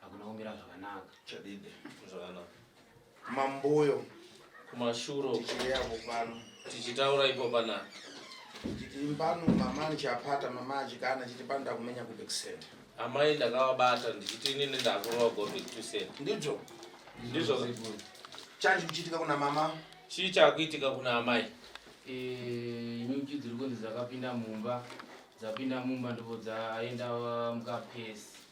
Hakuna kumira zvakanaka. Chadide zvakanaka. Mamboyo kumashuro tichiyavo pano. Tichitaura ipo pana. Chiti pano mama ndichapata mama achikana chiti pano ndakumenya ku Bixen. Amai ndakavabata ndichiti inini ndakurova go back to set. Ndizvo. Ndizvo. Change kuchitika kuna mama. Chii chakuitika kuna amai? Eh, ini ndichidiri kunzi dzakapinda mumba. Dzapinda mumba ndipo dzaenda mukapesi.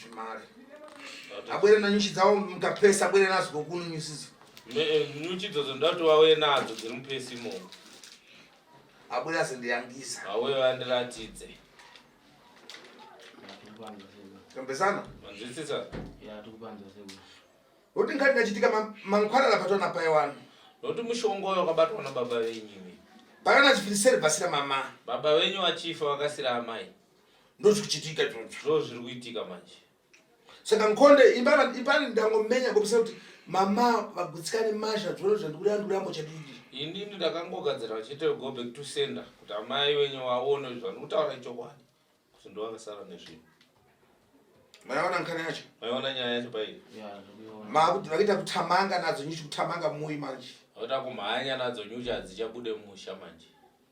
Zvimari. Abwere na nyuchi dzawo mukapesa abwere nazo kokunu nyuchi dzo. Me eh, nyuchi dzo ndati wawe nadzo dziri mupesi mo. Abwere azo ndiyangisa. Awe vandiratidze. Kambesana? Manzwisisa? Ya tukupanza sebo. Roti ngati ndachitika mangwara lapatwa na paye wani. Roti mushongo yo kabatwa na baba venyu. Pakana chifiriseri basira mama. Baba venyu vachifa vakasira amai. ndozvikuchitika ndozviri kuitika manje saka nkonde ipani ndangomenya ngopisa kuti mama vagutsikane masha dzona zvandikuranduramo chadidi inini ndakangogadzira vachiita go back to sender kuti amai wenyu vaone zvandikutaura ichokwadi kuti ndovakasara nezvinhu maiona nkana yacho maiona nyaya yacho paii makuti vakuita kutamanga nadzo nyuchi kutamanga muyi manje vakuita kumhanya nadzo nyuchi hadzichabude mumusha manje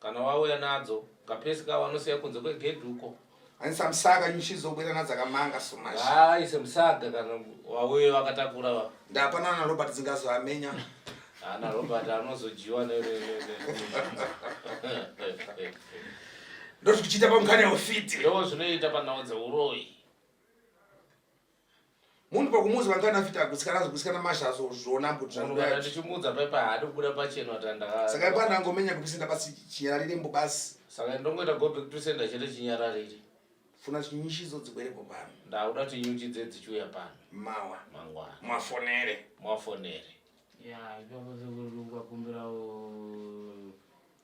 Kana wauya nadzo kapesi ka wanosiya kunze kwegedhi uko. Ani samsaga nyuchi dzobwira nadzo akamanga so much. Ah, ise msaga kana wauye wakatakura wa. Ndapana na Robert dzingazoamenya. Ana ah, Robert anozojiwa ne ne ne. Ndozvikuchita pamukanya ufiti. Ndozvinoita panhau dzeuroi. munhu pakumuzi vangani afita kusikana zvekusikana mashazo zvona mbudzvanotichimudza paipa haadi kubuda pacheno atanda saka ipa ndangomenya kupisenda basi chinyararire mbo basi saka ndongoita gobe kupisenda chete chinyararire funa nyuchi idzo dzibwerepo pano ndauda kuti nyuchi dze dzichiuya pano mawa mangwana mwafonere mwafonere ya ipapo zvekurungwa kumbirawo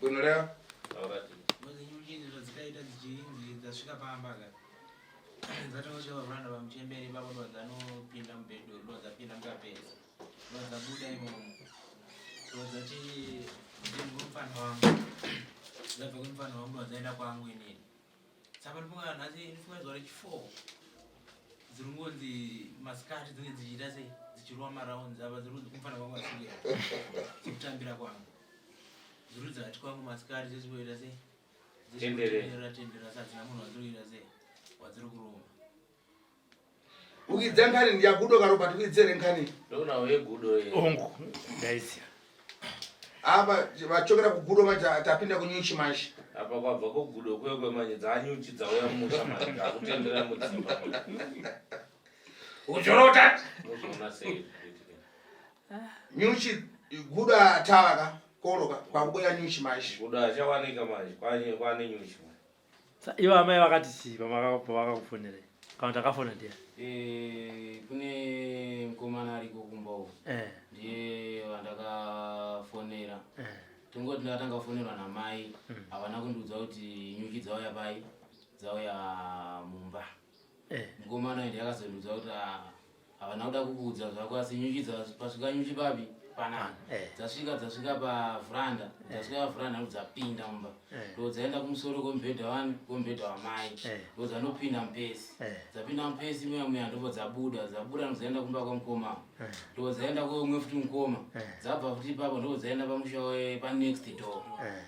Gonoreva. dzasvika pamba ka dzatosvika pakuranda pamuchemberi ipapo ndo dzanopinda mubhedho ndo dzapinda mukapeza ndo dzabuda imomo ndo dzati ndimufana wangu dzabva kumufana wangu ndo dzaenda kwangu inini saka ndifunga nhasi ndifunga zuva rechi4 dziri kungonzi masikati dzinge dzichiita sei dzichirova marounds apa dziri kunzi kumfana kwangu asiri dzikutambira kwangu dziri kunzi hati kwangu masikati dzechimboita sei dzechimbotenderera tenderera sadzina munhu wadziri kuita sei wadziri kurova Ukidze nkani ndiyagudo ka Robert uidzere nkani. Ndona we gudo ye. Ongu guys. Ava vachokera kugudo vaja tapinda kunyuchi manje. Apa kwabva kugudo kwe kwe manje dzanyuchi dzauya musha manje akutendera mudzimba. Ujorota. Muzvona sei. Nyuchi gudo atava ka koroka kwakubuya nyuchi manje. Gudo achawanika manje kwanye kwane nyuchi manje. Ivo amai vakati chii pavakakufonerei? Kana takafona ndiye. Eh, kune mkomana ariko kumba uko. Eh. Ndiye vandakafonera. Eh. Tingoti ndakatanga kufonerwa namai, mm. havana kundiudza kuti nyuchi dzauya pai, dzauya mumba. Eh. Mukomana uyu ndakazonudza kuti ah, havana kuda kukuudza zvako asi nyuchi dzasvika nyuchi papi panapa ah, eh. dzasvika dzasvika pavhuranda eh. dzasvika pavhuranda ndo dzapinda mumba ndo dzaenda kumusoro kwemubhedha wani kwemubhedha wamai ndo dzanopinda mupesi dzapinda mupesi muya muya ndobva dzabuda dzabuda ndo dzaenda kumba kwamukoma ndo dzaenda kweumwe futi mukoma dzabva futi ipapo ndo dzaenda pamusha panext door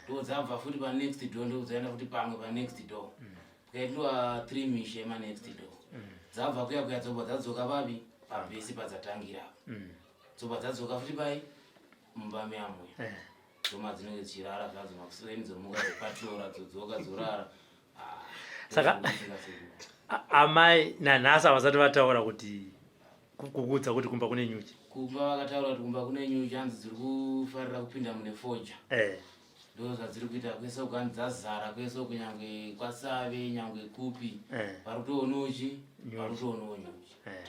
ndo dzabva futi panext door ndo dzaenda futi pamwe panext door mm. kukaitwa three mishe emanext do mm. dzabva kuya kuya dzobva dzadzoka vavi pambesi padzatangira mm. dzobva dzadzoka futi pai mumba meamwe eh. dzoma dzinenge dzichirara zvadzo makuseni dzomuka dzopatora dzodzoka dzorara ah, saka amai nanhasi havasati vataura kuti kukuudza kuti kumba kune nyuchi kumba vakataura kuti kumba kune nyuchi hanzi dziri kufarira kupinda mune foja eh. ndo zvadziri kuita kwese uku ani dzazara kwese uku nyangwe kwasave nyangwe kupi eh. vari kutoonawo chi vari kutoonawo nyuchi eh.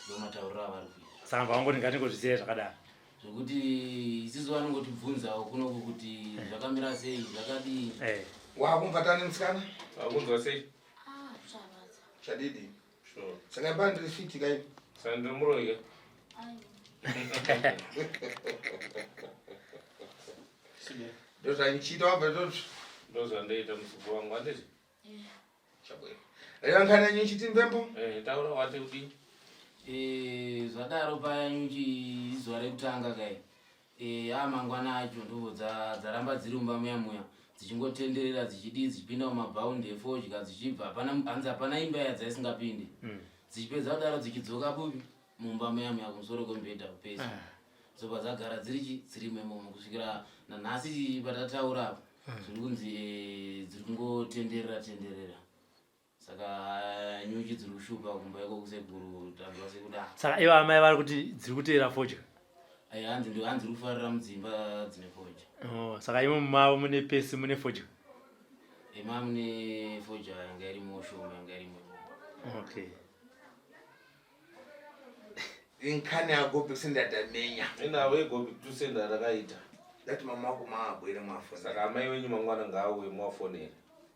ndo matauriro avari kuita samba wangoti ngatingozvisiya zvakadaro zvekuti isisu vanongotibvunzawo kunoku kuti eh. zvakamira sei zvakadii wakumbata nemusikana wakunzwa sei ah, zvadidi saka baa ndiri fiti kai saka ndiri muroyi ka ndozvandichiita wabva toti ndozvandaita musuku wangu anditi chabwera reva nkhani yanyu ichiti mbembo eh, taura wati kudii Eh, zvadaro paya nyuchi izuva rekutanga kai Eh, a mangwana acho nduvo dza- dzaramba dziri mumba muya muya dzichingotenderera dzichidii dzichipinda mumabhaundi efodya dzichibva hapana hanzi hapana imba iya dzaisingapinde dzichipedza kudaro dzichidzoka kupi mumba muya muya kumusoro kwemubhedha kupesa dzobva dzagara dziri chi dziri memomo kusvikira nanhasi patataura apa zviri kunzi eh, dziri kungotenderera tenderera saka nyuchi dziri kushupa kumba iko kusekuru tanzwa sekuda saka ivo amai vari kuti dziri kuteera fodya ai hanzi ndi hanzi ri kufarira mudzimba dzine fodya oh, saka imo mumavo mune pesi mune fodya ima mune fodya yanga iri mushoma yanga iri mu okay inkhani ya gopi sindadamenya inawe gopi tusenda rakaita ndati mama wako maabwere mwafona saka amai wenyu mangwana ngaauye mwafonera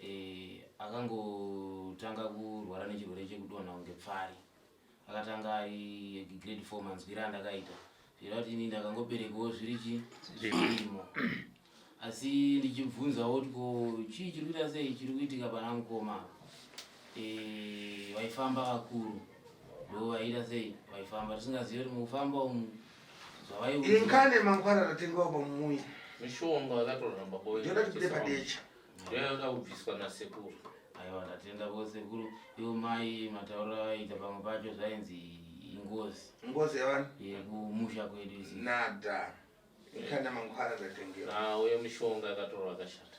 eh, akangotanga kurwara nechirwere chekudonha kunge pfari akatanga ari grade four manzwira andakaita zvira kuti ini ndakangoberekewo zviri chi zvirimo asi ndichibvunzawo kuti ko chii chiri kuita sei chiri kuitika pana mukoma eh, vaifamba vakuru ndo vaiita sei vaifamba tisingazivi kuti mukufamba umu inkane mangwana tatengawo pamuyi mishonga yakatoramba boyoda tikude padecha ndoyanga kubviswa nasekuru aiwa ndatenda ko sekuru ivo mai mataura aita pamwe pacho zvainzi ingozi ngozi yavani yekumusha kwedu isi nada inkane mangwana tatengewa nauye mishonga yakatorwa akashata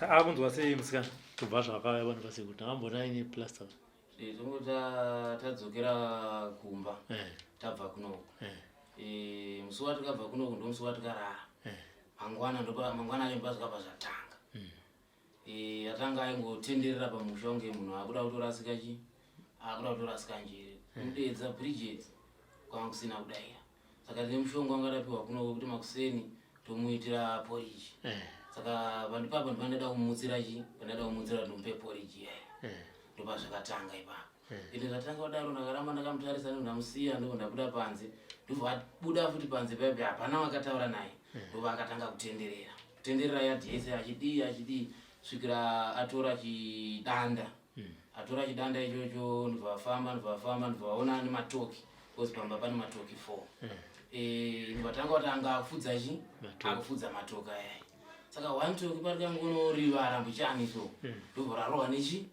akunzwa sei musikana kubva zvakauya vanhu vase kuti ambona aine plaster eh, tongoda tadzokera kumba eh. tabva kunoku eh. musi watikabva kunoku ndo musi watikarara mangwana mangwana acho mba zvakabva zvatanga hmm. atanga aingotenderera pamusha kunge munhu akuda kutorasika chi akuda kutorasika njiri hmm. kudeedza bridget kwanga kusina kudaira saka ndine mushonga wangarapiwa kuno wekuti makuseni tomuitira poriji eh. saka pandipapa ndipandada kumutsira chi pandada kumutsira ndomupe poriji yayo eh. ndopa zvakatanga ipapo eh. ende ndatanga kudaro ndakaramba ndakamutarisa ndo ndamusiya ndiko ndabuda panze ndobva abuda futi panze paipi hapana wakataura naye ndobva akatanga kutenderera kutenderera yadhi yese achidii achidii svikira atora chidanda hmm. atora chidanda ichocho ndobva afamba ndobva afamba ndobva aona ane matoki because pamba pane matoki four hmm. eh, ndobva tanga kuti anga akufudza chi akufudza matoki ayai saka one toki pari kangonorivara mbuchani so hmm. ndobva rarohwa nechi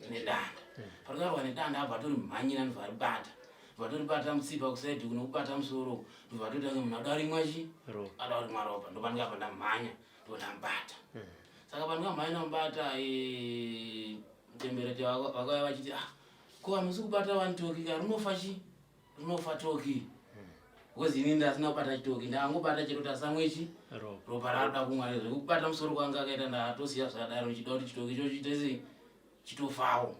nedanda pari karohwa nedanda abva atori mhanyira ndobva aribata vatoribata mutsipa kusaidi kunokubata musoro ndobva atotange munhu adoarimwachi adoarimwaropa ndopange apa ndamhanya ndona mbata hmm. saka vanhu vamhaina mbata eh, mutemberete vakauya vachiti ah ko hamusi kubata wani toki ka rinofa chi rinofa toki hmm. because ini ndasina kubata chitoki ndangobata chero tasamwechi ropa rakuda kumwa zvekubata musoro kwanga akaita ndatosiya zvadaro ndichida kuti chitoki ichochi tese chitofawo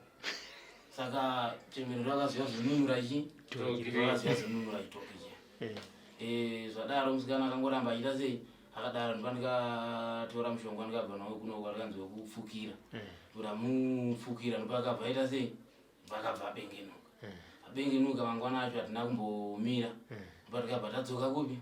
saka chemerero akaziva zvinunura chi akaziva zvinunura chitoki chi eh. eh, zvadaro musikana akangoramba achiita sei akadaro ndiba ndikatora mushonga ndikabva nawo kuno kwarikanzi wekupfukira eh. kuda mupfukira ndipo akabva aita sei vakabva abengenuka abengenuka mangwana acho hatina kumbomira ndipo tikabva tadzoka kupi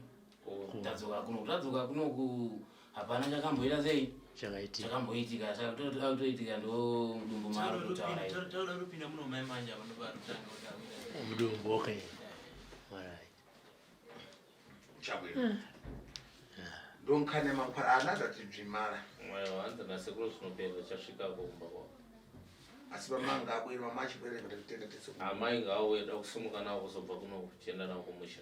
tadzoka kuno tadzoka kunoku hapana chakamboita sei chakaitika chakamboitika chakutoitika ndo mudumbu maro kutaura toda kupinda muno mai manja vanovarutanga mudumbu okay alright chabwera hmm. ndonkane makwara ana zvatibvimara mwayo hanzi nasekuru zvinopera chasvika kumba kwako asi vamanga abwere mama achibwere ngatitende tese amai ngawo eda kusimuka nawo kuzobva kuno kuchienda nawo kumusha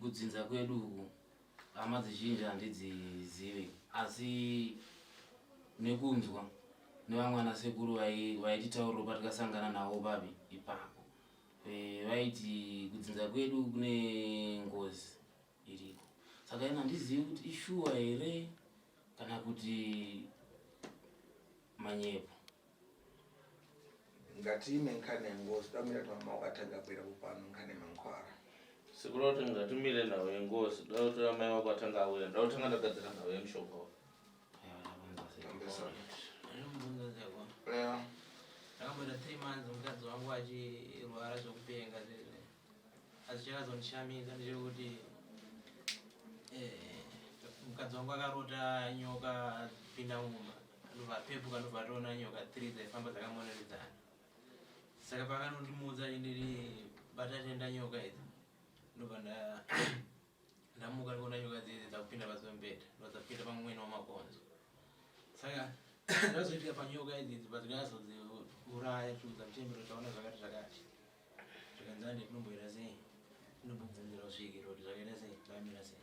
kudzinza kwedu uku hama dzizhinji handidzizive asi nekunzwa nevamwe ana sekuru vaititauriro patikasangana navo babi ipapo e, vaiti kudzinza kwedu kune ngozi iriko saka ina handizivi kuti ishuwa here kana kuti manyepo ngatiime nkani yengozi damira tamama wakatanga kuera kupano nkani mankwara sikuda kuti ngatimire nhau yengozi da kuti amai wako atanga auya nda kutanga ndagadzira nhau yemushonga wa ndakamboita three months mukadzi wangu achirwara zvekupenga zvizvi azichakazondishamisa ndichiri kuti eh, mukadzi wangu akarota nyoka pindamuma anovapepuka ndobva atoona nyoka three dzaifamba dzakamonanidzana saka pakanondimudza achindiri bata tenda nyoka idzi ndobva ndamuka ndikuona nyoka dzidzi dzakupinda pasi pembeda ndodzakupinda pamumwene wamakonzo saka ndazoitika panyoka idzidzi padzikazodziuraya tiudza mutembero taona zvakati zvakati zvikanzande tinomboita sei tinombobvunzira kusvikira kuti zvakaita sei zvamira sei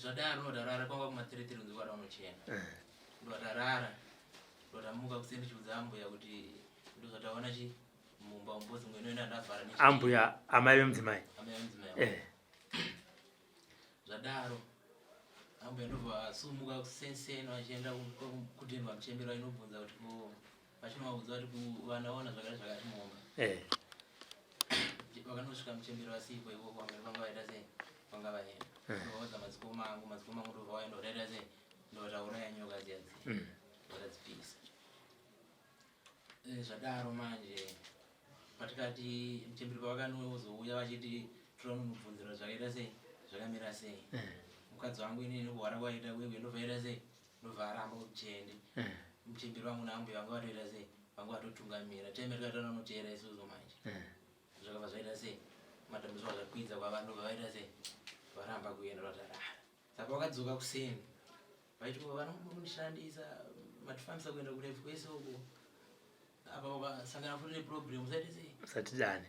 Zvadaro ndodarara kwanga kumateretere kunzi kwara unochena. Eh. Ndodarara. Ndotamuka kuseni ndichiudza ambuya kuti ndozvataona chi mumba umbozi mwene wena ndavhara nechi. Ambuya amai vemudzimai. Amai vemudzimai. Eh. Zvadaro. Ambuya ndobva asumuka kusenseni vachienda kudendwa muchembera inobvunza kuti ko vachinovaudza kuti kuvanaona zvakare zvakati muhomba eh. vakanosvika muchembero vasipo ivo vamwene vanga vaita sei vanga vaenda eh. ndovaudza madzikoma angu madzikoma angu ndova vaenda vataita sei ndotaura yanyoka dziyadzi mm. vakadzipisa eh, zvadaro manje patikati muchembero pavakanozouya vachiti tinonomubvunzira zvakaita sei zvakamira sei mukadzi wangu inini kuhwara kwaita uye uye ndobvaita sei ndovaramba kuti tiende eh. mutemberi vangu naambuya vanga vatoita sei vanga vatotungamira time rikatona noteera isuzo manje eh. zvakabva zvaita sei matambudziko akakwidza kwavanhu ndobva vaita sei varamba kuenda vatarara saka vakadzoka kuseni vaiti vanomundishandisa matifambisa kuenda kurefu kwese uko apa vakasangana futi neproblem usaite sei usatidane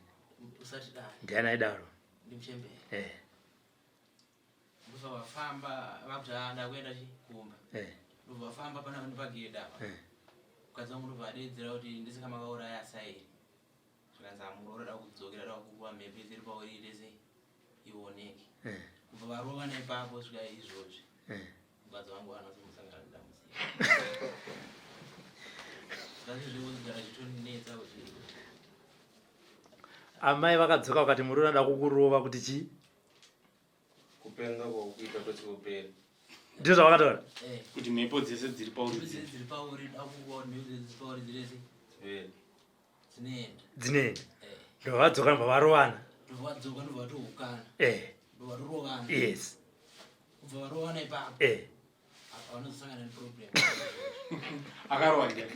usatidane ndiani aidaro ndimuchembere eh. ndovafamba vakuta ndakuenda chi kumba eh. ndovafamba pana vanhu pagedhe apa eh. mukadzi wangu ndovadedzera kuti ndisaka makauraya sairi zvikanzi amuroora da kudzokera da kukuva mhepo dziri pauri ndese ioneke eh. kubva varova nepapo svika izvozvi mukadzi wangu anozomosangana nedambudziko zazvizvekuzigara zvitonetsa kuti amai vakadzoka vakati murume ada kukurova kuti chii kupenga kwakuita kwese kupera ndizvo zvavakataura eh. kuti mhepo dzese dziri pauri eh. dzinoenda eh. ndovadzoka nobva varovana yes kubva varovana ipapo akarowa ndiani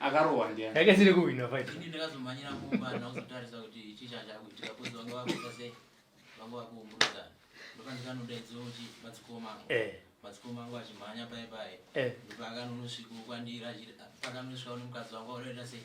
akarowa ndiani yake siri kuhwina fight ini ndakazomhanyira kumba ndauzotarisa kuti chii chachakuitika kozi vanga vakuita sei vanga vakuumburudzana ndokandikanodaidza kuti madzikoma angu eh. madzikoma angu achimhanya paye paye eh. ndopakanonosvika kwandira pakanosvika nemukadzi wangu aunoita sei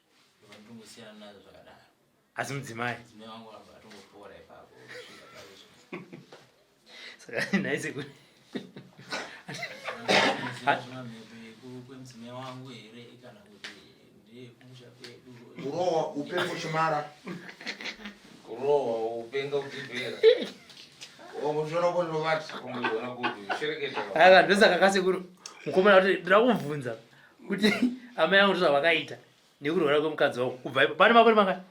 asi mudzimai saka naise kuti kurohwa upe kuchimara kurohwa upenga kutibhera ndosaka kasekuru mukomana kuti ndakubvunza kuti amai angu ndozvavakaita nekurwara kwemukadzi wangu kubva ipo pane makore mangani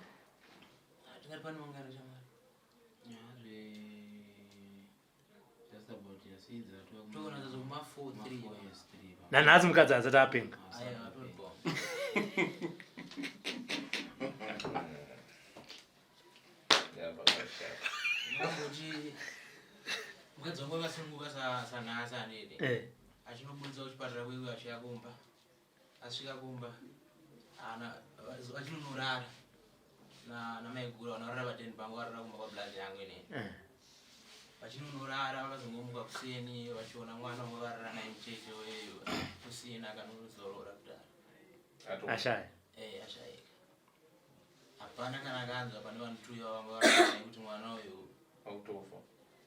nanhasi mukadzi asati apenga mukadzi wangu akasununguka sanhasi anene eh. achinobuditsa kuchipatara kwewe achiya kumba asvika kumba achinonorara namaiguru vanorara vateni pangu varara kumba kwablazi yangu inene eh. vachinonorara vakazongomuka kuseni vachiona mwana wavo varara naye mucheche weyo kusina kanozorora kudaro ashaya eh, ashaika hapana kana akanzwa pane vanhu two iva vanga vaa kuti mwana uyu akutofa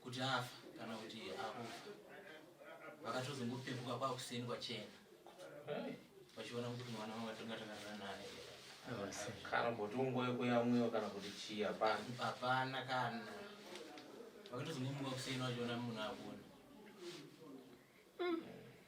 kuti afa kana kuti akufa vakatozongopepuka kwakuseni kwachena vachiona kuti mwana wanga tongatakazana naye kana kuti ungoyeko yamwiwa kana kuti chii hapana hapana kana vakatozongomuka kuseni vachiona munhu akuona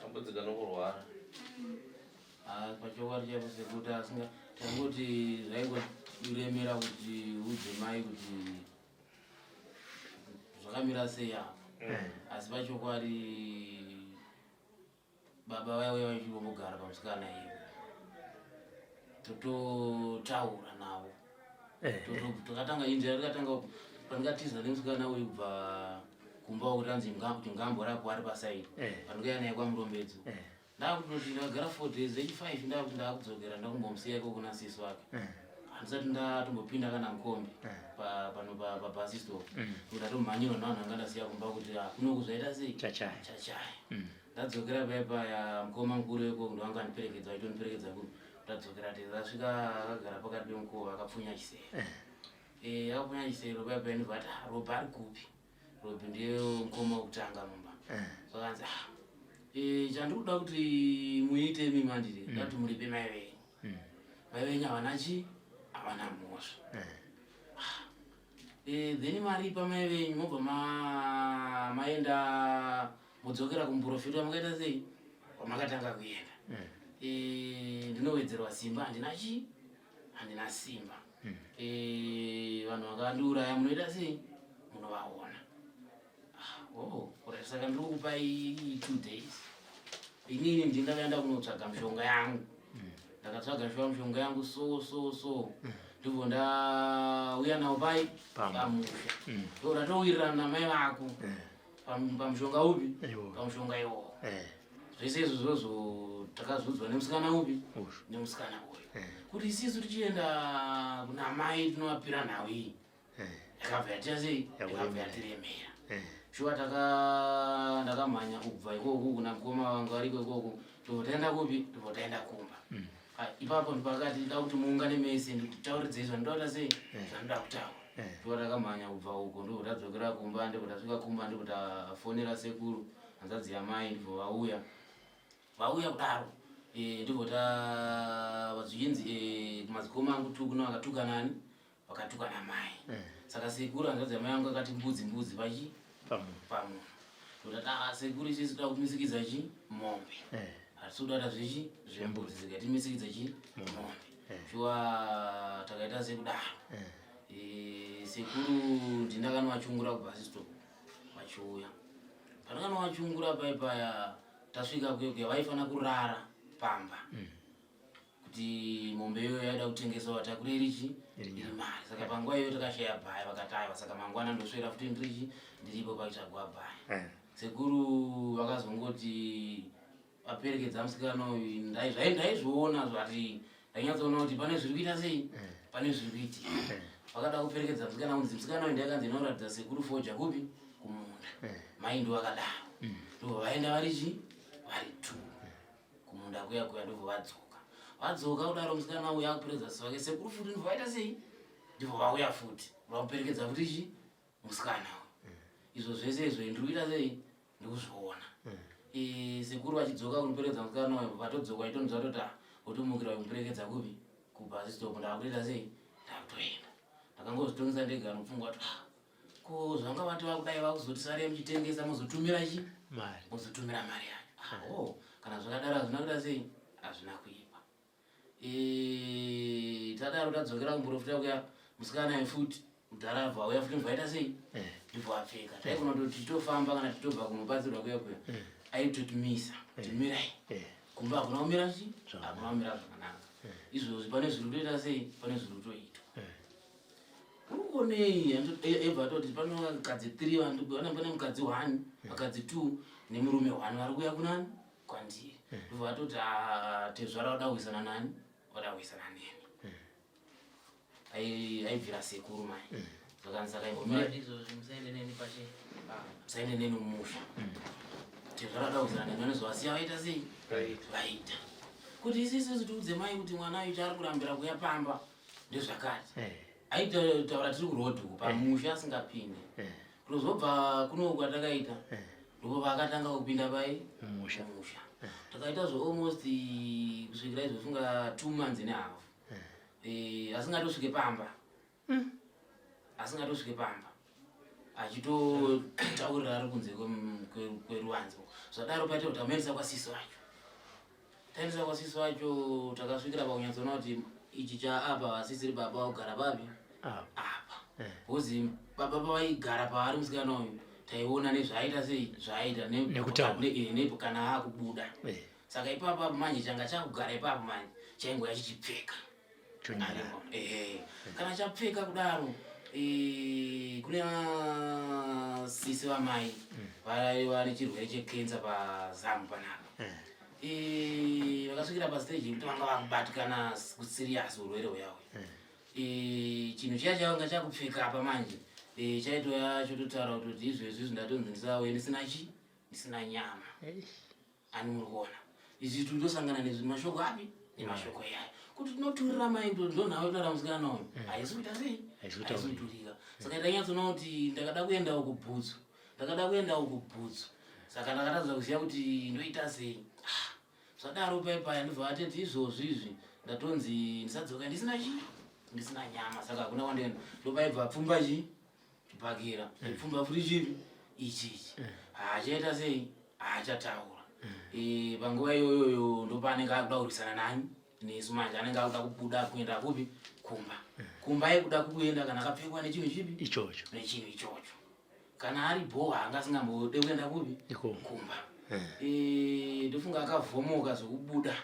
Tambudzika nokurwara. Ah, pachokwadi chaipo sekuti asinga tangoti zvaingoremera kuti udze mai kuti zvakamira sei apa mm. asi pachokwadi baba vaive vachingongogara pamusikana ivo tototaura navo Eh, eh. takatanga inja yakatanga pandikatiza nemusikana uyu kubva kumba kuranzi ngambo rako ari pasaidi eh. pandikaya naye kwamurombedzo ndakuti ndagara four days echifive ndakuti ndakudzokera ndakumbomusiya iko kuna sisi wake handisati ndatombopinda kana mukombi pano pabasi store mm. ndatomhanyirwa navanhu anga ndasiya kumba kuti ah, kuno kuzvaita sei chachaya mm. ndadzokera paya paya mukoma mukuru weko ndovanga ndiperekedza aitoniperekedza kuno tadzokera tese asvika akagara pakati pemukova akapfunya chisero eh. eh, akapfunya chisero paya paya ndibva ati ah, robi ari kupi robi ndiye mukoma wekutanga mumba eh. zvakanzi ah, eh, chandiri kuda kuti muite imi mandiri mm. ndati muripe mai venyu mm. mai venyu havana chi havana mhosva ah, then maripa mai venyu mobva maenda modzokera kumuprofita wamakaita sei wamakatanga kuenda mm. eh, ndinowedzerwa simba handina chii handina simba mm. eh, vanhu vakandiuraya munoita sei munovaona ah, oh, kurai saka ndiri kukupai two days inini ndingakaenda kunotsvaga mishonga yangu mm. ndakatsvaga mishonga mishonga yangu so so so ndibvo ndauya nawo pai pamusha ndoratowirirana namai vako pamushonga upi pamushonga iwowo eh. zvese izvo zvozo takazodzwa nemusikana upi nemusikana uyu eh. kuti isisu tichienda kuna mai tinovapira nhau iyi eh. yakabva yatira sei yakabva yatiremera shuwa taka ndakamhanya kubva ikoko kuna mukoma vangu ariko ikoko tobva taenda kupi tobva taenda kumba mm. Ah, ipapo ndipakati ndida kuti muungane mese ndikutauridzei zvandinoda kuda sei eh. zvandinoda kutaura eh. ndikuva takamhanya kubva uko ndiko tadzokera kumba ndiko tasvika kumba ndiko tafonera sekuru hanzadzi yamai ndiko vauya vauya kudaro eh, ndiko ta vazvinzi kumazikoma angu tuku no akatukana ani vakatukwa namai eh. saka sekuru hanzvadzi yamai yangu akati mbudzi mbudzi pachi pamunhu ndotati a ah, sekuru isisi toda kumisikidza chi mombe eh. hatisi kudada zvechi zvembudzi zikatimisikidza chi mombe shuwa eh. takaita sekudaro sekuru ndindakanowachungura kubva sisto vachiuya pandakanowachungura paipaya tasvika kuyokuya vaifanira kurara pamba mm. kuti mombe iyoyo yaida kutengeswa vatakure richi iri mari saka panguva iyoyo takashaya bhaya vakati aiwa saka mangwana ndoswera futi ndirichi ndiripo paitsvagwa bhaya eh. sekuru vakazongoti vaperekedza musikana uyu ndaizviona zvati ndainyatsoona kuti pane zviri kuita sei eh. pane zviri kuitika eh. vakada kuperekedza musikana unzi musikana uyu ndaikanzi inoratidza sekuru foja kupi kumunda mai ndo vakadaro mm. ndo vaenda vari chii vari two kumunda kuya kuya ndobva vadzoka vadzoka kudaro musikana uya akuperedza sisi vake sekuru futi ndobva vaita sei ndibva vauya futi vakuperekedza futi chi musikana uyu izvo zvese izvo ndiri kuita sei ndikuzviona mm. e, sekuru vachidzoka kunoperekedza musikana uyu vatodzoka itonzwa toti ah, otomukira kumuperekedza kupi kubhasi stop ndaakutoita sei ndakutoenda ndakangozvitongesa ndega anopfungwa kuti ah, ko zvanga vati vakudai vakuzoti sare muchitengesa mozotumira chi mari mozotumira mari yacho ah, oh kana zvakadaro hazvina kuda sei hazvina kuipa e, tadaro tadzokera kumborofita kuya musikana ye futi mudhara abva auya futi mvaita sei eh. ndibva apfeka taigona kuti titofamba kana titobva kunobatsirwa kuya kuya eh. aitotimisa eh. timirai kumba hakuna kumira chi hakuna kumira zvakanaka izvozvi pane zviri kutoita sei pane zviri kutoitwa ukonei ebva atoti pano vakadzi three vandigona pane mukadzi one vakadzi two nemurume one vari kuya kunani kwandiri ndobva vatoti ah, tezvara vada kuisana nani vada kuisana neni aibvira sekuru mai zvakanzi sakaimbomusaende neni mumusha tezvara vada kuisana neni vanozovasiya vaita sei vaita kuti isisu tiudze mai kuti mwana ayo chaari kurambira kuya pamba ndezvakati eh. aitaura tiri kurodhu eh. pamusha asingapinde eh. kunozobva kuno kwatakaita ndipo vakatanga kupinda pai musha takaita zve almost kusvikira izofunga two months ne half asingatosvike pamba hmm. asingatosvike pamba achitotaurira ari kunze kweruvanzi zvadaro paita kuti amuendesa kwasiso acho taendesa kwasiso acho takasvikira pakunyatsoona kuti ichi chaapa vasisiri baba vaugara papi ah. apa bhozi eh. baba pavaigara paari musikana uyu taiona nezvaaita sei zvaaita eh, kana akubuda eh. saka ipapa manje changa chakugara ipapa manje chaingoya chichipfeka chonyarirwa ehe kana chapfeka kudaro eh, kune sisi vamai mm. vaiva nechirwere chekensa pazamu panapa eh. eh, vakasvikira pasteji yekuti vanga vakubatikana kusiriyasi urwere huyahwe chinhu chiya chakanga chakupfeka apa manje chaitoya chototaura kuti izvezvi zvindatonzi ndisawe ndisina chi ndisina nyama ani muri kuona izvi tindosangana nezvi mashoko api nemashoko iyayo kuti tinoturira maindo ndonhau yekutaura musikana nayo mm. haisi kuita sei haisi kuturika mm. saka ndanyatsoona kuti ndakada kuendawo kubhutsu ndakada kuendawo kubhutsu saka ndakatadza kuziva kuti ndoita sei ah, zvadaro paipaya ndobva vateti izvozvi izvi ndatonzi ndisadzoka ndisina chii ndisina nyama saka hakuna kwandienda ndopaibva pfumba chii Bhakira eh. pfumba furi chinhu ichi ichi eh. haachaita sei haachataura eh. panguva iyoyoyo ndopaanenge akuda kurwisana nani nesu manje anenge akuda kubuda kuenda kupi kumba kumba yekuda kuenda kana akapfekwa nechinhu chipi ichocho nechinhu ichocho kana ari bhowa anga asingambode kuenda kupi kumba ndofunga akavhomoka zvekubuda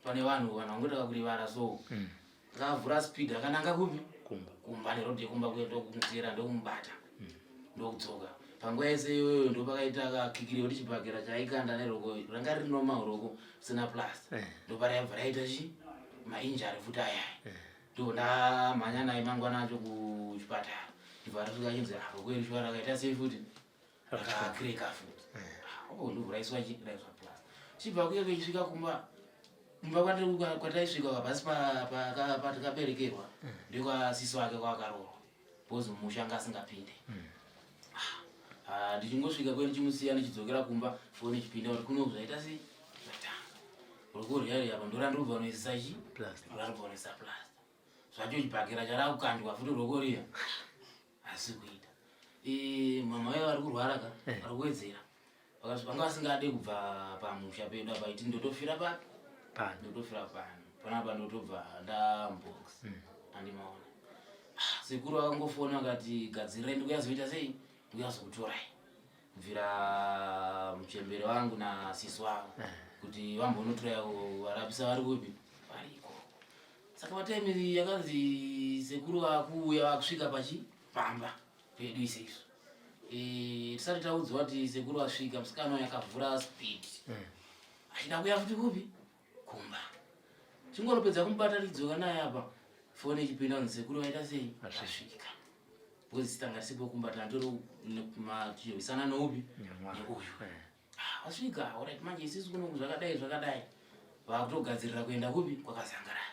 pane vanhu vanhu vangoita kakurivara so mm. Akavhura speed akananga kupi? Kumba. Kumba neroad yekumba kuya ndokumutera ndokumubata. Mm. Ndokudzoka. Panguva yese iyoyo ndopakaita kakikiri kuti chibhakera chaikanda neroko ranga riri normal roko sina plus. Eh. Ndopara yabva raita chi mainjari futi aya. Eh. Ndipo ndamhanya naye mangwana acho kuchipatara. Ndibva riri kachinzi ah roko iri shwara akaita sei futi? akagreka futi okundiuraiswa eh. chiraiswa plus chibva kuye vechisvika kumba kumba kwataisvika kapasi patikaberekerwa eh. ndekwasisi wake kwakaroorwa bcoz musha anga asingapinde hmm. ah, ah, ndichingosvika kwe ndichimusiya ndichidzokera kumba foni ichipinda kuti kuno zvaita sei zvatanga rokoriyari apa ndorandobva noisisa chi randobva noisisa plasta zvacho chibhakera charakukandwa futi rokoriya asi kuita mama vaye vari kurwara ka eh. vari kuwedzera vanga vasingade kubva pamusha pedu apa iti ndotofira papi pano ndotofira pano panapa ndotobva ndambox hmm. andimaona ah, sekuru vakangofona vakati gadzirai ndikuyazoita sei ndikuyazokutorai kubvira muchembere wangu nasisi wangu eh. kuti vambonotora varapisa vari kupi variko saka vataimiri yakanzi sekuru vakuuya vakusvika pachi pamba pedu ise isu eh, tisati taudzwa kuti sekuru vasvika musikana yakavhura speed eh. achida kuya futi kupi kumba chingoropedza kumubata ridzoka naye apa fone ichipinda kunzi sekuru vaita sei asvika bcoz sitanga risipo kumba tandori machihwisana noupi neuyu vasvika ah, orit manje isisu kuno zvakadai zvakadai vakutogadzirira kuenda kupi kwakazangaraya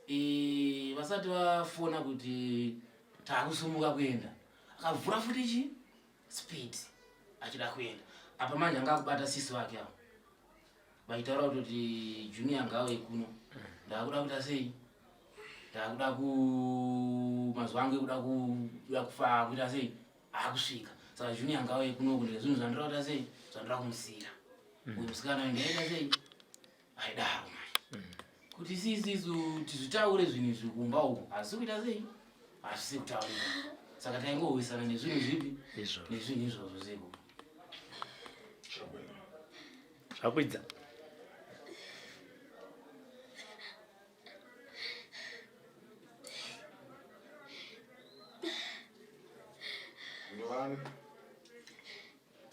eh, vasati vafona kuti taakusumuka kuenda akavhura futi chi speed achida kuenda apa manje anga akubata sisi vake avo vaitaura kutoti junior ngauye kuno ndakuda kuita sei ndakuda ku mazuva angu ekuda kuda kufa kuita sei akusvika saka junior ngauye kuno kuti zvinhu zvandira kuita sei zvandira kumusira mm. uyu musikana uyu ndaita sei aidaro mai mm. kuti sisisu tizvitaure zvinhu izvi kumba uku hazvisi kuita sei hazvisi kutaurika saka taingohwisana nezvinhu zvipi nezvinhu izvozvo zeko zvakuidza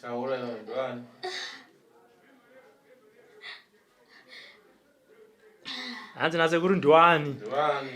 taura ndovani hanzi nasekuru ndiwani ndiwani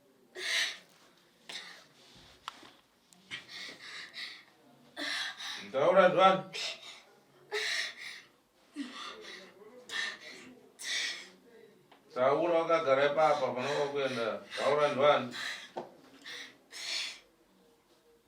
Taura zvani. Taura wakagara ipapa panokuenda. Taura zvani.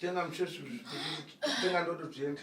tenga msheshu tenga ndoto zviende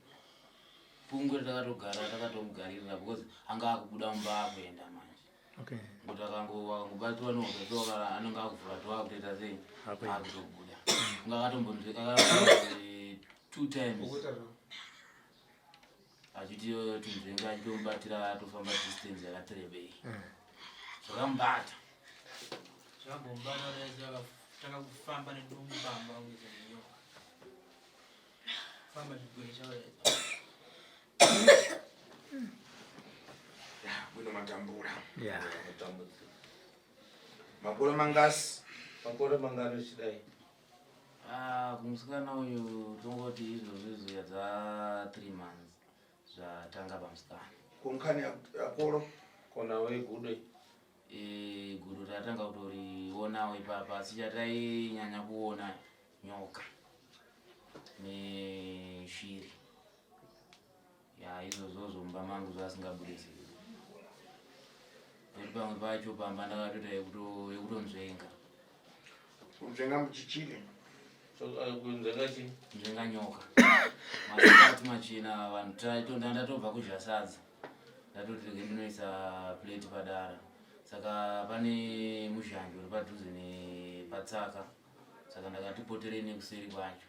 pungwe takatogara takatomugaririra because anga akubuda mumba akuenda manje kuti akangobatwa nohwetokaa anenge akuvhura to akutoita sei akutobuda nga akatombonzwekaka two times achiti tunzvenga achitomubatira atofamba distance yakatirebei eh. zvakamubata zvakambomubata takakufamba nedumbu bamba Famba zvigwere chauya. Ya, kuno matambura. Ya. Matambura. Makore mangasi? Makore mangani uchidai? Ah, kumusikana uyu tongoti izvozvo izoya dza 3 months zvatanga pamusikana. Kunkani akoro kona we gude. Eh, guru ratanga kutoriona ipapa asi chatainyanya kuona nyoka neshiri ya izvozvo zvomba mangu zvasingabude zii oti pamwe pacho pamba ndakatoita yekutonzvenga kunzvenga muchichiri kunzvenga chi nzvenga nyoka maati machina vanhu taitonda ndatobva kudya sadza ndatoti rege ndinoisa plate padara saka pane muzhanji uri padhuze nepatsaka saka ndakati poterei nekuseri kwacho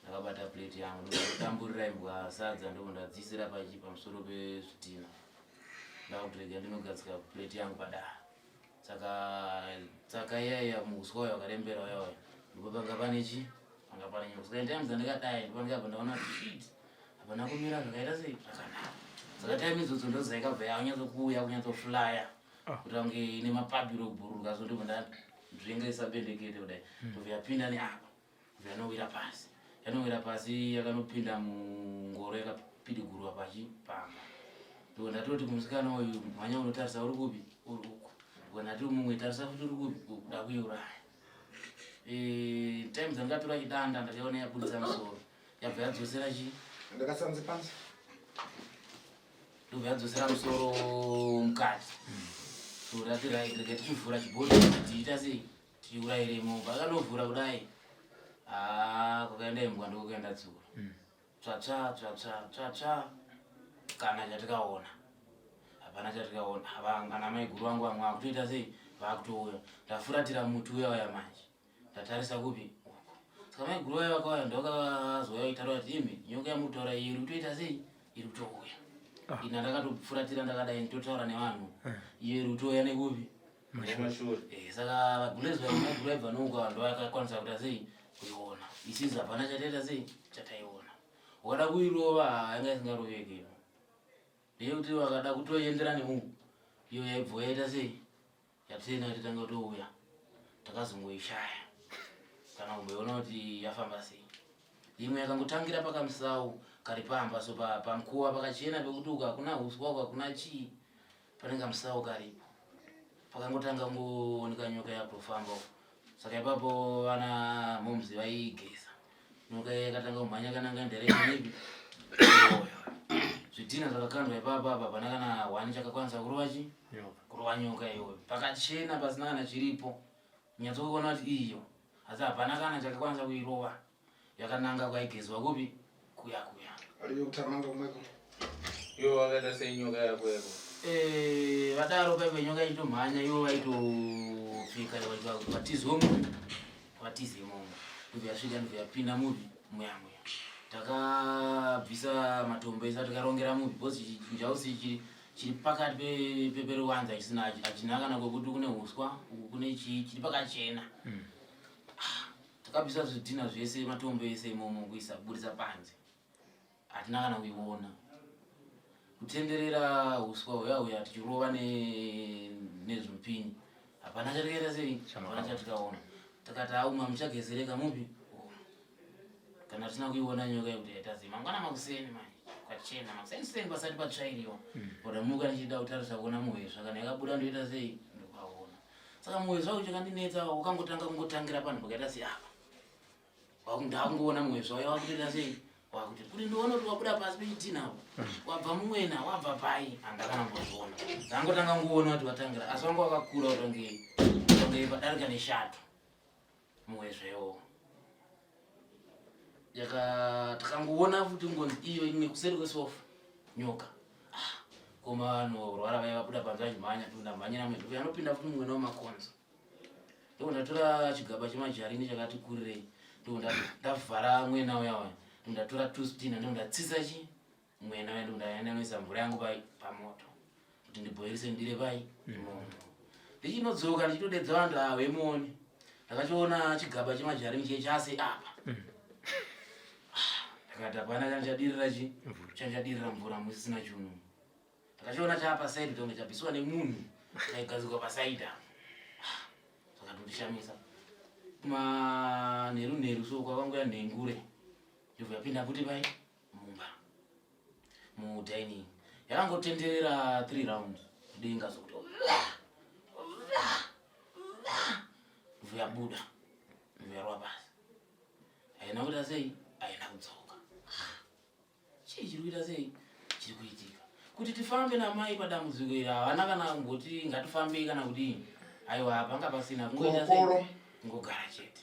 ndakabata plate yangu ndotamburira imbwa sadza ndobva ndadziisira pachi pamusoro pezvitina ndakutirega ndinogadzika plate yangu padara saka saka iyaiya muuswa uyo wakarembera uya uya ndipo panga pane chi panga pane nyoko saka times andikadai ndipo ndikabva ndaona shit hapana kumira zvakaita sei zvakanaka saka time idzodzo ndozaikabva yaunyatsokuuya kunyatsoflyer kuti vange ine mapabiro okubhururuka so ndibva ndazvengesa bendekete kudai hmm. ndobva yapinda neapa ndobva yanowira pasi yanowira pasi yakanopinda mungoro yakapidigurwa pachi pamba ndobva ndatoti kumusikana uyu mhanya unotarisa uri kupi uri uku ndobva ndati mumwe tarisa kuti uri kupi kuda kuiuraya time dzandikatora chidanda ndakaona yabudisa musoro yabva yadzosera chi ndakasanzi pansi ndobva yadzosera musoro mukati so rati right rega tichivhura chibhodhi tiita sei tichiurayiremo pakanovhura kudai haa kwakaenda imbwa ndokuenda tsuro hmm. tsvatsva tsvatsva tsvatsva kana chatikaona hapana chatikaona ana maiguru vangu vamwe vakutoita sei vakutouya ndafuratira muti uya uya manje ndatarisa kupi saka maiguru vaya vakauya ndokazouya vaitaura kuti imi nyoka yamutaura iyi iri kutoita sei iri kutouya ah. ina ndakatofuratira ndakadai nditotaura nevanhu eh. iyo iri kutouya nekupi eh, saka vagulezi vaya maiguru vaibva nouka vanhu vakakwanisa kuita sei kuiona isizi hapana chataita sei chataiona wakada kuirova yanga isingaroveke ndeyekuti vakada kutoendera nemunhu iyo yaibva yaita sei Yatienda kuti tanga touya takazongoishaya kana kumboiona kuti yafamba sei. Imwe yakangotangira pakamusawu kari pamba so pamkuwa pakachena pekuti uku hakuna huswa uku hakuna chii panenge kamusawu karipo. Pakangotanga kungooneka nyoka yakutofamba uku saka ipapo vana momzi vaigeza nyoka yakatanga kumhanya kana nga nderekanei zvidhina zvakakandwa ipapa apa pana kana wani chakakwanisa kurova chi kurova nyoka iyoyo pakachena pasina kana chiripo nyatsokuona kuti iyo asi hapana kana chakakwanisa kuirova yakananga kwaigezwa kupi kuya kuya ariyo kutamanga kumweko iwo wakaita senyoka yako yako Eh, vadaro paive nyoka ichitomhanya ivo vaitopfika vatizwe muvi vatize imomo ndobva yasvika ndobva yapinda muvi muyamuya takabvisa matombo ese tikarongera muvi bcause njausi chiri chiri pakati peperuwanza chisina achinakana kwekuti kune uswa uku kune chii chiri pakachena takabvisa zvidhina zvese matombo ese imomo kuisa kuburitsa panze hatina kana kuiona kutenderera uswa huya huya tichirova nezvimupini hapana chatikaita sei hapana chatikaona takati auma muchagezereka mupi oh. kana tisina kuiona nyoka yekuti yaitazi mangwana makuseni mani kwachena makuseni seni pasati patsvairiwa hmm. oda muka ndichida kutarisa kuona muhwezva kana yakabuda ndoita sei saka moyo zvawo chakandinetsa wakangotanga kungotangira panhu pakaita seapa ndakungoona moyo zvawo yawakutoita sei wakuti kuti ndiona kuti wabuda pasi pechitina apo wabva mumwena wabva pai andakana mbozviona ndangotanga kungoona kuti watangira asi wanga wakakura kuti wange wange padarika neshato muwezvewo yaka takangoona futi ngonzi iyo imwe kuseri kwesofa nyoka ah, koma vanhu rwara vaya vabuda panze vachimhanya tunda mhanyira mwedu anopinda futi mumwe nawo makonzo ndiko ndatora chigaba chemajarini chakati kurirei ndiko ndavhara mwena uya waya ndatora tustina ndiko ndatsisa chii Mwena wedu ndaenda noisa mvura yangu pai pamoto kuti ndibhoirise ndire pai mm. imomo ndichinodzoka ndichitodedza vanhu ava vemuone ndakachiona chigaba chemajarini chiye chase apa mm. ah, ndakati hapana kana chadirira chi chanchadirira mvura musisina chunu ndakachiona chapa saidi tonge chabviswa nemunhu chaigadzikwa pasaidi apa ah, zvakatondishamisa manheru nheru so kwakanguya nhengure ndobva yapinda kuti pai mumba mudining yakangotenderera three round denga zokuti vuyabuda vuyarwa pasi haina kuita sei haina kudzoka chii chiri kuita sei chiri kuitika kuti tifambe namai padambudziko iri havana kana kungoti ngatifambei kana kudii aiwa panga pasina kungoita sei kungogara chete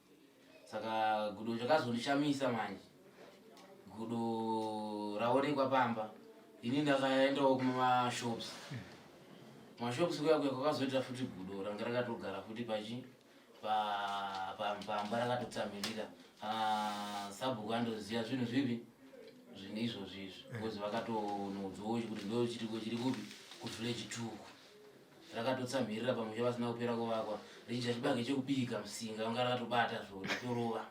saka gudo zvakazondishamisa manje gudo raonekwa pamba ini ndakaendawo kumashops mashops kuya kuya kwakazoita futi gudo ranga rakatogara futi pachi pamba rakatotsamhirira ah, sabhuku andoziva zvinhu zvipi zvine izvozvi izvi bcause vakatonoudzowo kuti ndochiriko chiri kupi kuvillage tuku rakatotsamhirira pamusha vasina kupera kuvakwa richiita chibage chekubika musinga vanga rakatobata zvo ritorova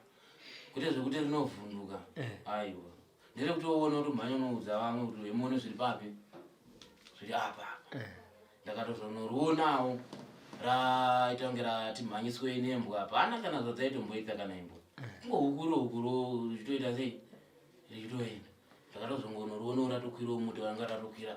kwete zvekuti rinovhunduka eh. aiwa ndere kuti woona kuti mhanya unoudza vamwe kuti vemuone zviri papi zviri apa eh. ndakatozonoriwonawo raita kunge ratimhanyiswe nembwa hapana kana zvadzaitomboita kana imbwa eh. kungohukuro hukuro richitoita sei richitoenda ndakatozongonoriwonawo ratokwirawo muti vanga ratokwira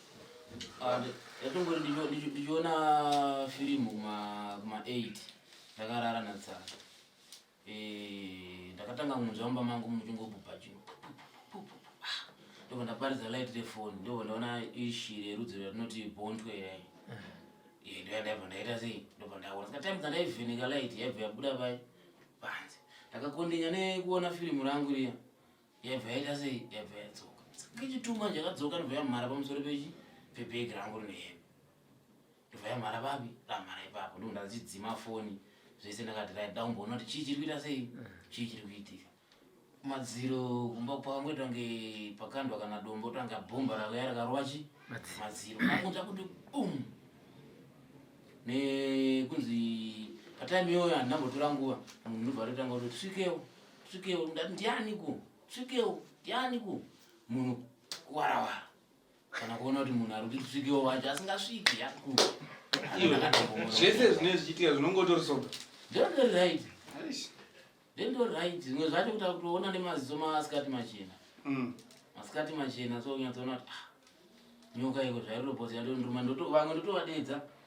and yatongori ndichiona firimu kuma 8 ndakarara natsara eh, ndakatanga kunzwa mumba mangu muchingobhubha chino ndobva ndaparidza light refoni ndobva ndaona ishiri yerudzi ratinoti bontwe yai eh, ndoyandaibva ndaita sei ndobva ndaona ska time dzandaivheneka light yaibva yabuda pai panze ndakakondenya nekuona firimu rangu riya yabva yaita sei yabva yadzoka kechituma chakadzoka ndobva yamhara pamusoro pechi pebhegi rangu rine hembe ndobva yamhara papi ramhara ipapo ndo ndachidzima foni zvese ndakati rai da kumboona kuti chii chiri kuita sei mm. chii chiri kuitika madziro kumba kwangu tange pakandwa kana dombo tange bhomba rauya rakarova chi madziro angu takuti bum nekunzi patime iyoyo handinambotora nguva ndobva rotanga kuti tisvikewo tsvikewo ndati ndianiko tsvikewo ndianiko munhu kuwarawara kana kuona kuti munhu ari kuti tsvikewo wacho asingasviki yako zvese zvinee zvichiitika zvinongotori soga ndondori right ndondori right zvimwe zvacho kuta kutoona nemaziso maasikati machena mm. masikati machena so unyatsoona kuti ah, nyoka iko zvairobhozi yandondiruma vamwe ndotovadeedza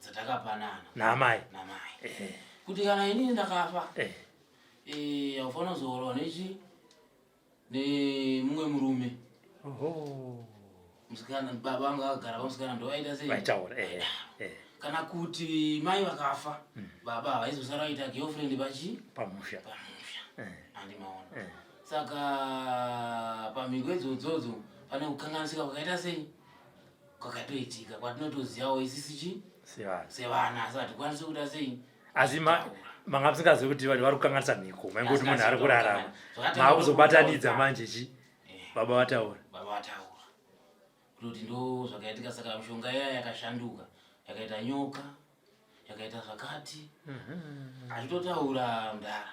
dzatakapanana namai namai eh. kuti kana inini ndakafa eh. eh, haufanira kuzorowa nechi nemumwe murume musikana baba vanga vagara pamusikana ndovaita sei vaitaura kana kuti mai vakafa mm. baba havaizosara vaita girlfriend pachi pamusha pamusha andimaona eh. eh. saka pamhiko idzodzo pane kukanganisika kwakaita sei kwakatoitika kwatinotozivawo isisi chii sevana asi hatikwanisi kuda sei asi manga musingazivi kuti vanhu vari kukanganisa mhiko mainge kuti munhu ari kurarama maa kuzobatanidza manje chi eh. baba vataura baba vataura kutoti ndo zvakaitika saka mishonga iya yakashanduka yakaita nyoka yakaita zvakati mhm. achitotaura mdara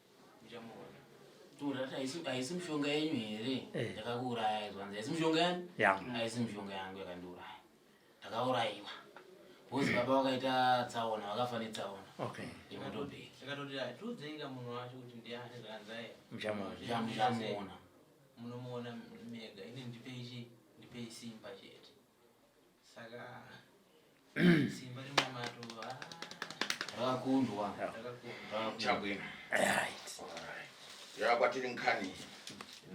haisi mishonga yenyu here eh. yakakuurayai zvanzi haisi mishonga yani haisi mishonga yangu yakandiuraya ndakaurayiwa bhozi baba vakaita tsaona vakafa netsaona imotobhekiikatotiatiudzenga munhu wacho kuti ndiani zvanzaiamuona munomuona mega ini ndipeichi ndipei simba chete saka simba remumato rakundwa chabwino yava kwatiri nkani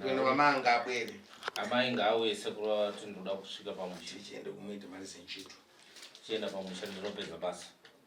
kwenda vamanga abwere amai ngaauye sekuru vati ndoda kusvika pamusha chienda kumuita mari senchito chienda pamusha ndinopedza basa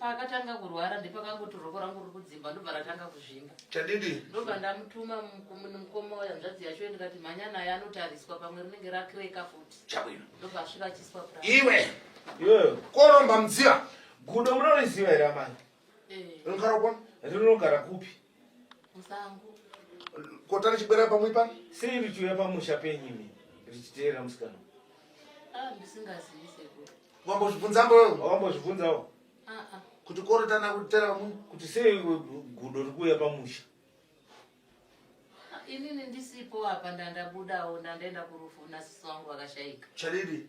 paakatanga kurwara ndepakangoti roko rangu riri kudzimba ndobva ratanga kuzvimba chadidi ndobva ndamutuma mukoma uya nzvadzi yacho yo ndikati mhanya naye anotariswa pamwe rinenge rakireka futi chabwino ndobva asvika achiswa pra iwe iweyo koromba mudziva gudo munoriziva here amai eh. rinogara kupi Musango. Kotari chibwera pamwe pa? Sei richiuya pamusha penyu imi richiteera musikana? Ah, ndisingazivi sekuru. Wambozvibvunza mboyo? Wambozvibvunzawo? Ah ah. Kuti korotana kutera vamwe? Kuti sei gudo rikuuya pamusha? inini ndisipo apa ndandabudawo ndandaenda kurufu nasisi wangu vakashaika chariri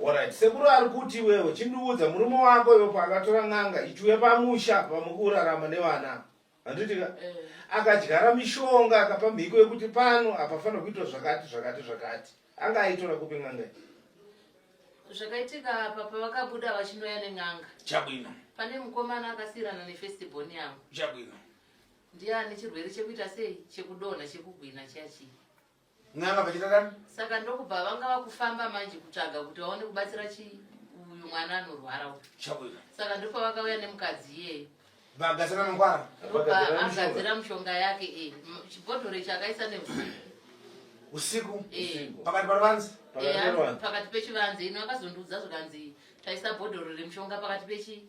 Alright, sekuru ari kuti iwewe chindiudza murume wako iwe paakatora n'anga ituwe pamusha pamukurarama nevana handitika eh. akadyara mishonga akapa mhiko yekuti pano apafanira kuitwa zvakati zvakati zvakati anga aitora kupi n'anga zvakaitika apa pavakabuda vachinoya nen'anga chabwino pane mukomana akasiyirana nefestiborn yangu chabwino ndiye ane chirwere chekuita sei chekudonha chekugwina chiya chii n'anga vachiita dani saka ndokubva vanga vakufamba manje kutsvaga kuti vaone kubatsira chi uyu mwana anorwara uyu chabuda saka ndopa vakauya nemukadzi iyeyo vagadzira mangwara ndopa agadzira mushonga yake e chibhodhoro chakaisa neusiku usiku eh. pakati paruvanzi eh, pakati pechivanzi ino akazondiudza zvikanzi taisa bhodhoro remushonga pakati pechi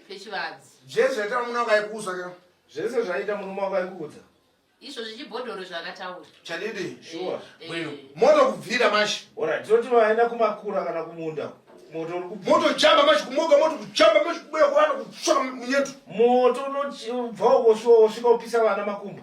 pechivanzi zvese zvaita murume wakaikuudza zvese zvaita murume wakaikuudza izvo zvichibhodhoro zvakataura chanidi eh, shuwa eh. bwino moto kubvira mashi ora tinoti vaenda kumakura kana kumunda moto uri kubvira moto chamba mashi kumoga moto kuchamba mashi kubuya kuvana kutsvaka munyeto moto unobva ukosvika upisa vana makumbo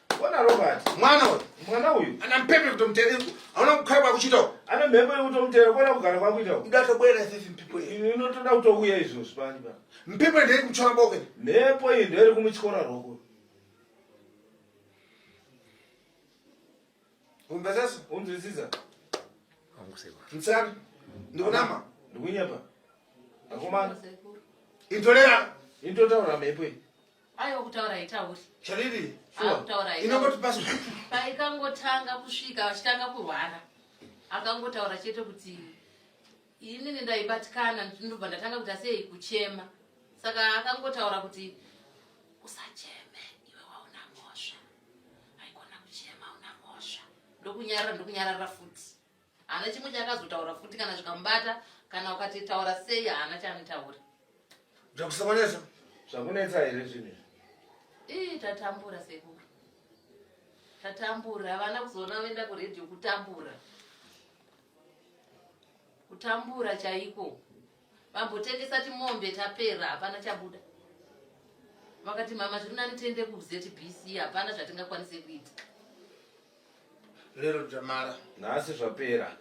Bona Robert. Mwana uyu. Mwana uyu. Ana mpepe kutomutera. Hauna kukhala kwakuchita uko. Ana mhepo yekutomutera kona kugara kwakuita uko. Ndatobwera sisi mpepo iyi. Inotoda kutouya izvozvi pani pa. Mpepo iyi ndiri kumutyora boke. Mhepo iyi ndiri kumutyora roko. Umbesesa? Unzwisisa? Angusewa. Mtsana. Ndikunama. Ndikunyapa. Akomana. Intolera. Intotaura mhepo iyi. aiwa kutaura haitauri chariri inongoti pas paikangotanga kusvika vachitanga kurwara akangotaura chete kuti inini ndaibatikana ndobva ndatanga kuti asei kuchema saka akangotaura kuti usacheme iwe wauna mhosva haikona kuchema una mhosva ndokunyarara ndokunyarara futi Hana chimwe chakazotaura futi kana zvikamubata kana ukati taura sei hana chanotaura. Zvakusokonesa. Zvakunetsa here zvinhu. Ii tatambura sekuru tatambura havana kuzoona voenda kuredhiyo kutambura kutambura chaiko vambotengesa timombe tapera hapana chabuda vakati mama zviri nani tiende kuzbc hapana zvatingakwanise kuita lero dzamara nhasi zvapera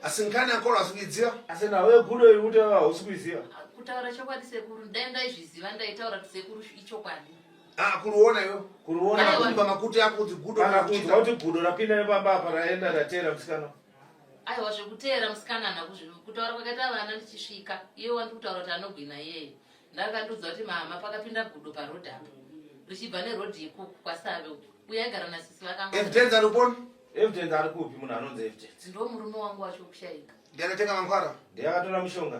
asi nkani akolo hasi kuidziva asi nawe gudo iri kutaura hausi kuidziva kutaura chokwadi sekuru ndai ndaizviziva ndaitaura kuti sekuru ichokwadi ah, kuruona iyo kuruona makuti ako kuti gudo kuti gudo rapinda nepamba apa raenda ratera musikana aiwa zvekuteera musikanana kutaura kwakaita vana ndichisvika iye wandi kutaura kuti anogwina iyeye ndakandiudza kuti mama pakapinda gudo parod apo richibva nerod yekuku kwasave uku uye aigara nasisi vakangoevidence ari uponi evidence ari kupi munhu anonzi evidence ndo murume wangu wacho kushaika ndiakatenga mangwara ndiakatora mushonga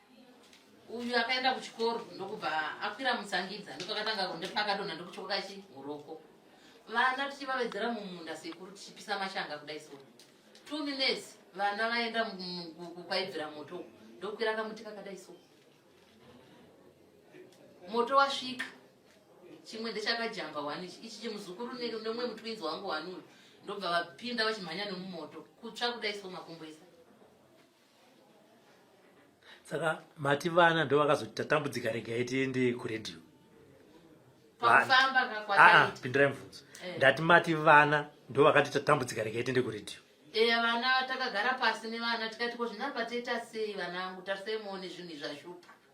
uyu akaenda kuchikoro ndokubva akwira mutsangidza ndokakatanga ndopakadonha ndokuchoka chihuroko vana tichivavedzera mumunda sekuru tichipisa mashanga kudai so two minutes vana vaenda kwaibvira moto ndokwira kamuti kakadai so moto wasvika chimwe ndechakajamba wani ichi chimuzukuru nemumwe mutwinzi wangu wani uyu ndobva vapinda vachimhanya nemumoto kutsva kudai so makumbo ese saka mati vana ndo vakazoti tatambudzika regai tiende kuredio aa ah, ah, pindirai mubvunzo eh. ndati mati vana ndo vakati tatambudzika regai tiende kuredio eya eh, vana takagara pasi nevana tikati ko zvinapa toita sei vana angu tarisai muone zvinhu izvashupa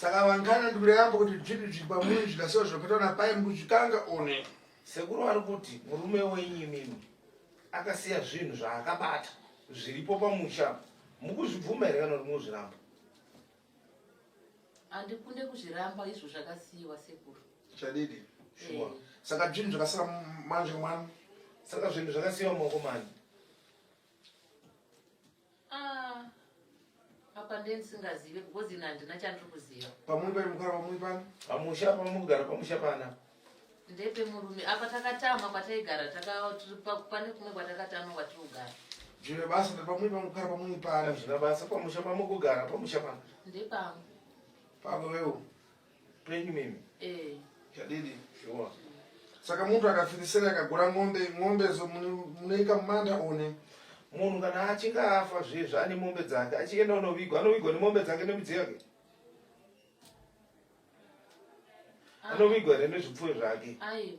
saka vangana ndikureyambo kuti zvinhu zviri pamuri zvikasiwa zvakaitwa napai mukuzvikanga one sekuru vari kuti murume wenyu mimi akasiya zvinhu zvaakabata zviripo pamusha mukuzvibvuma here kana kuti mukuzviramba handikunde kuzviramba izvo zvakasiyiwa sekuru chadidi shuwa eh. saka zvinhu zvakasiya manje mwana saka zvinhu zvakasiyiwa maoko mani Ah, apa ndendisingazive because ina handina chandiri kuziva pamwe pari mukara pamwe pano pamusha pamwe kugara pamusha pana ndepe murume apa takatama kwataigara pane kumwe kwatakatama kwatiri kugara zvine basa pamwe pamwe kugara pamwe pana zvina basa pamusha pamwe kugara pamusha pana ndepangu pako wewo Penyu mimi. Eh. Chadidi. Sure. Saka muntu akafirisira akagura mombe, mombe zo munoika mumanda one. Munhu kana achinge afa zviye zvaane mombe dzake, achienda unovigwa, anovigwa nemombe dzake nemidziyo yake. Ah. Anovigwa here nezvipfuyo zvake. Aiwa.